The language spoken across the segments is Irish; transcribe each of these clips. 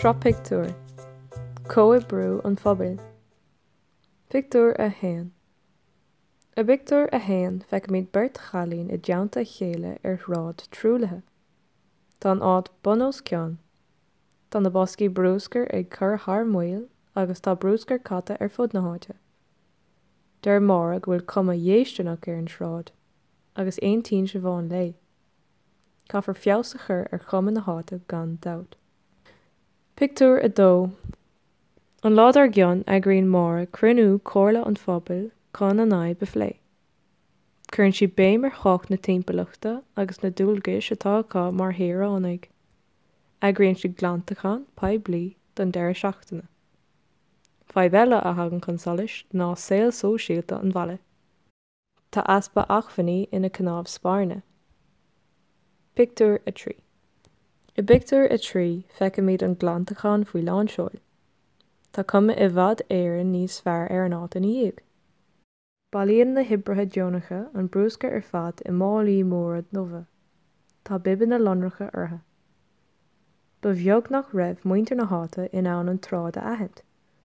Sraith Pictiúr, Comhoibriú an Phobail. Pictiúr 1 I bpictiúr a haon feicimid beirt chailín i dteannta a chéile ar shráid truaillithe. Tá an áit bun os cionn. Tá na boscaí brúscair ag cur thar maoil agus tá brúscar caite ar fud na háite. Deir Máire go bhfuil cuma dhéistineach ar an tsráid. agus aontaíonn Siobhán léi. Caithfear feabhas a chur ar chuma na háite gan dabht. Pictiúr 2 An lá dár gcionn eagraíonn Máire cruinniú comhairle an phobail chun an fhadhb a phlé. Cuireann sí béim ar thábhacht na timpeallachta agus na dualgais atá acu mar shaoránaigh. Eagraíonn sí glantachán poiblí don deireadh seachtaine. Fadhb eile a thagann chun solais ná saol sóisialta an bhaile. Tá easpa acmhainní ina cnámh spairne. Pictiúr 3. I bpictiúr 3, feicimid an glantachán faoi lánseoil. Tá cuma i bhfad Éireann níos fearr ar an áit ina dhiaidh. Bailíonn na hoibrithe deonacha an brúscar ar fad i málaí móra nua. Tá bibeanna lonracha orthu. Ba bheag nach raibh muintir na háite in ann an tsráid a aithint,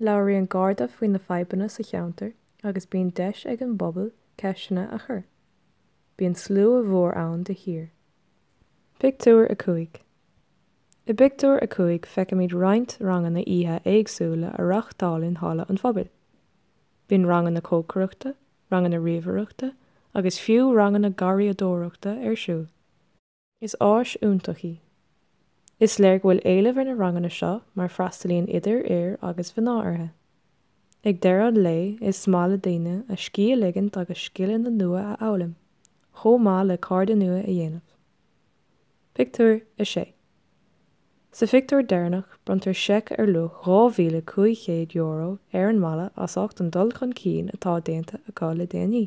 Labhraíonn Garda faoi na fadhbanna sa cheantar agus bíonn deis ag an bpobal ceisteanna a chur. Bíonn slua mhór ann de shíor. Pictiúr 5 I bpictiúr a cúig feicimid roinnt ranganna oíche éagsúla a reáchtáil i Halla an Phobail. Bíonn ranganna cócaireachta, ranganna ríomhaireachta agus fiú ranganna garraíodóireachta ar siúl. Is áis iontach í. Is léir go bhfuil éileamh ar na ranganna seo mar freastalaíonn idir fhir agus mhná orthu. Ag deireadh an lae is maith le daoine a scíth a ligint agus scileanna nua a fhoghlaim, chomh maith le cairde nua a dhéanamh. Pictiúr 6 Sa phictiúr deireanach bronntar seic ar luach €2,500 ar an mbaile as ucht an dul chun cinn atá déanta acu le déanaí.